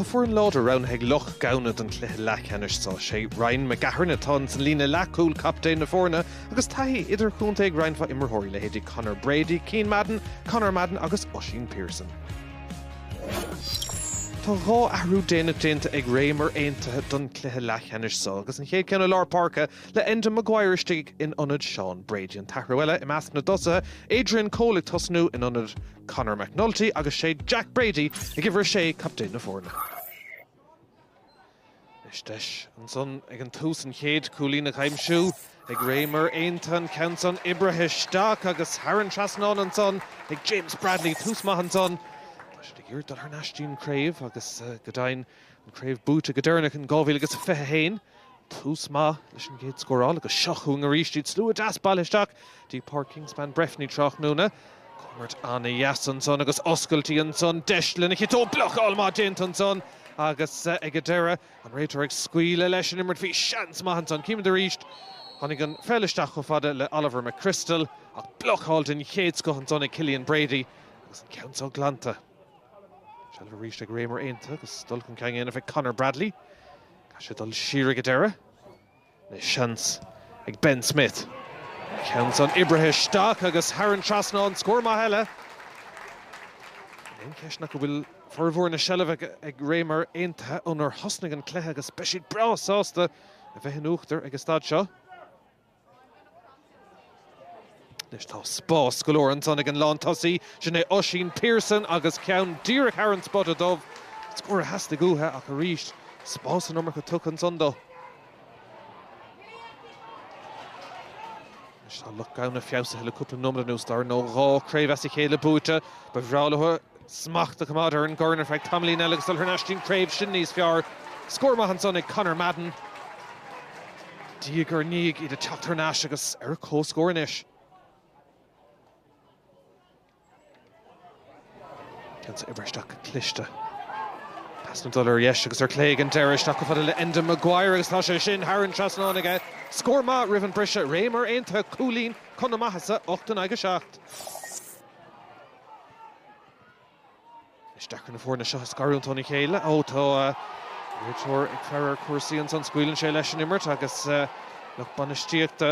Tá foireann láidir roghnaithe ag Loch Gamhna don chluiche leathcheannais sa sé. Ryan McGahern atá ansan sa líne leathchúil, captaen na foirne, agus taithí idirchontae ag roinnt mhaith imreoirí, leithéidí Conor Brady, Cian Madden, Conor Madden agus Oisín Pierson. Tá dhá athrú déanach déanta ag Ramor Aontaithe don chluiche leathcheannais so, agus an chéad cheann i lár páirce le Enda Maguire istigh in ionad Sean Brady. An t-athrú eile i measc na dtosaithe, Adrian Cole ag tosnú in ionad Conor McNulty agus sé Jack Brady ag uimhir a sé, captaen na foirne. Is deis ansan ag an tús an chéad cúilín a aimsiú ag Ramor Aontaithe, an ceann san oibrithe isteach agus thar an trasnán ansan ag James Bradley, tús maith ansan. Tá siad ag iarraidh dul thar n-ais dtí'n chraobh agus go deimhin an chraobh buaite go deireanach in 2021. Tús maith leis an gcéad scóráil agus seo chugainn arís iad. Slua deas bailithe isteach go dtí Páirc Kingspan Breffni tráthnóna. Imirt an-deas ansan agus oscailtí ansan, deis lena chiotóg. Blocáil maith déanta ansan agus ag an deireadh an réiteoir ag scaoileadh leis an imirt. Bhí seans maith ansan. Címid arís. Tháinig an pheil isteach chomh fada le Oliver McChrystal ach blocáil den chéad scoth ansan ag Cillian Brady agus an ceann seo glanta. Seilbh arís ag Ramor Aontaithe agus dul chun cinn á dhéanamh ag Conor Bradley. Tá sé ag dul siar ag an deireadh le seans ag Ben Smith. An ceann san oibrithe isteach agus thar an trasnán, scór maith eile. Níl aon cheist ná go bhfuil formhór na seilbhe ag Ramor Aontaithe ónar thosnaigh an cluiche agus beidh siad breá sásta a bheith in uachtar ag an staid seo. Anois tá spás go leor ansan ag an lántosaí, sin é Oisín Pierson agus ceann díreach thar an spota dubh. Scór a theastaigh uathu ach arís spás an iomarca tugtha ansan dó. Anois tá Loch Gamhna feabhsaithe le cúpla nóiméad anuas, d'fhear nó dhó craobh as a chéile buaite. Ba bhreá leo a. smacht a choimeád ar an gcorn ar feadh tamaillín eile agus dul thar n-ais dtí'n chraobh sin níos fearr. Scór maith ansan ag Conor Madden, diaidh ar ndiaidh iad ag teacht thar n-ais agus ar comhscór anois. Ceann oibrithe isteach cliste. Pasanna ag dul ar dheis agus ar clé ag an deireadh, isteach chomh fada le Enda Maguire agus tá sé sin thar an trasnán aige. Scór maith roimh an briseadh Ramor Aontaithe cúilín chun a maitheasa, 8 in aghaidh 7. Is deacair na foirne seo a scarúint óna chéile. Ó, tá réiteoir ag faire ar chúrsaí ansan. Scaoileann sé leis an imirt agus lucht bainistíochta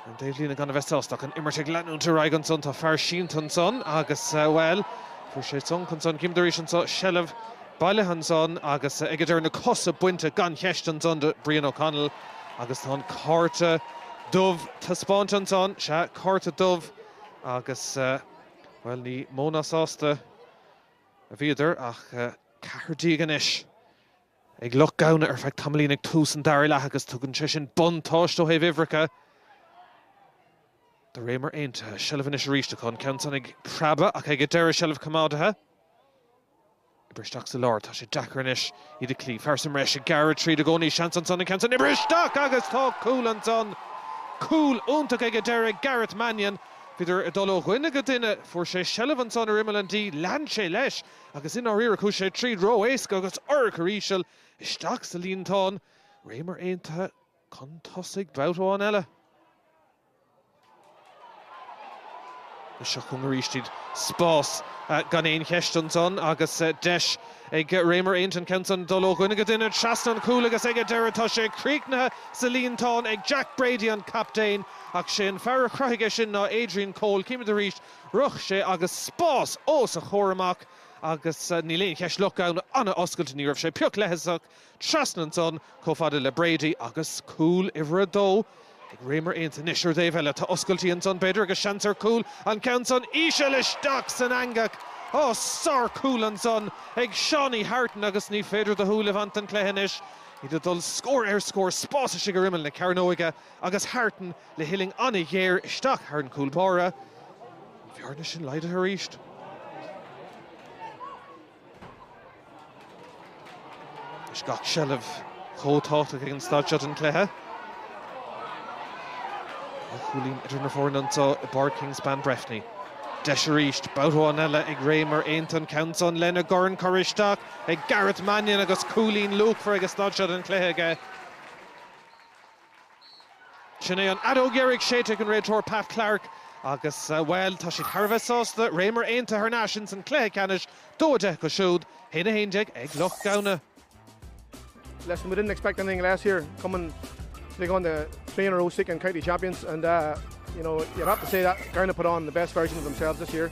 an dá thaobhlíne gan a bheith sásta ach an imirt ag leanúint ar aghaidh ansan. Tá fear sínte ansan agus, bhuel, fuair sé sonc ansan. Címid arís anso, seilbh bailithe ansan agus ag deireadh na cosa bainte gan cheist ansan de Brian O'Connell agus tá an cárta dubh taispeáinte ansan. Sea, cárta dubh agus. Bhuel, ní mó ná sásta a bhíodar ach ceathrar déag anois ag Loch Gamhna ar feadh tamaillín ag tús an dara leath agus tugann sé sin buntáiste ó thaobh uimhreacha do Ramor Aontaithe. Seilbh anois arís acu an ceann san ag preabadh ach ag an deireadh seilbh coimeádaithe. Oibrithe isteach sa lár, tá sé deacair anois iad a chloí. Fear sa mbreis ag gearradh tríd i gcónaí, seans ansan an ceann san. Oibrithe isteach agus tá cúl ansan. Cúl iontach ag an deireadh, Gareth Mannion. Bhíodar ag dul ó dhuine go duine, fuair sé seilbh ansan ar imeall an D, lean sé leis agus i ndáiríre chuaigh sé tríd ró-éasca agus urchar íseal isteach sa líontán. Ramor Aontaithe chun tosaigh, babhta amháin eile. Seo chugainn arís iad. Spás gan aon cheist ansan agus deis ag Ramor Aontaithe an ceann san dul ó dhuine go duine trasna an chúil agus ag an deireadh tá sé críochnaithe sa líontán ag Jack Brady, an captaen, ach sé an fear a chruthaigh é sin ná Adrian Cole. Címid arís rith sé agus spás os a chomhair amach agus níl aon cheist Loch Gamhna an-oscailte, ní raibh sé pioc leithleasach. Trasna ansan, chomh fada le Brady agus cúl uimhir a dó ag Ramor Aontaithe. Anois, ar an dtaobh eile, tá oscailtí ansan, b'fhéidir, agus seans ar chúl, an ceann san íseal isteach san eangach. Ó, sárchúl ansan ag Seánie Hartin agus ní féidir do shúil a bhaint den chluiche anois. Iad ag dul scór ar scór, spás istigh ar imeall na cearnóige agus Hartin le huillinn an-ghéar isteach thar an chúl báire. An bhearna sin laghdaithe arís. Anois gach seilbh chomh tábhachtach ag an staid seo den chluiche. Dhá chúilín idir na foirne anseo i bPáirc Kingspan Breffni. Deis arís, babhta amháin eile ag Ramor Aontaithe an ceann san lena dhorn curtha isteach ag Gareth Mannion agus cúilín luachmhar ag an staid seo den chluiche aige. Sin é an fheadóg dheiridh séidte ag an réiteoir Pat Clarke agus, bhuel, tá siad thar a bheith sásta, Ramor Aontaithe thar n-ais ins an cluiche ceannais, 2-10 acu siúd, 1-11 ag Loch Gamhna. Listen, we didn't expect anything less here, coming to take on the three in a row seeking county champions and uh, you know, you'd have to say that Gowna put on the best version of themselves this year.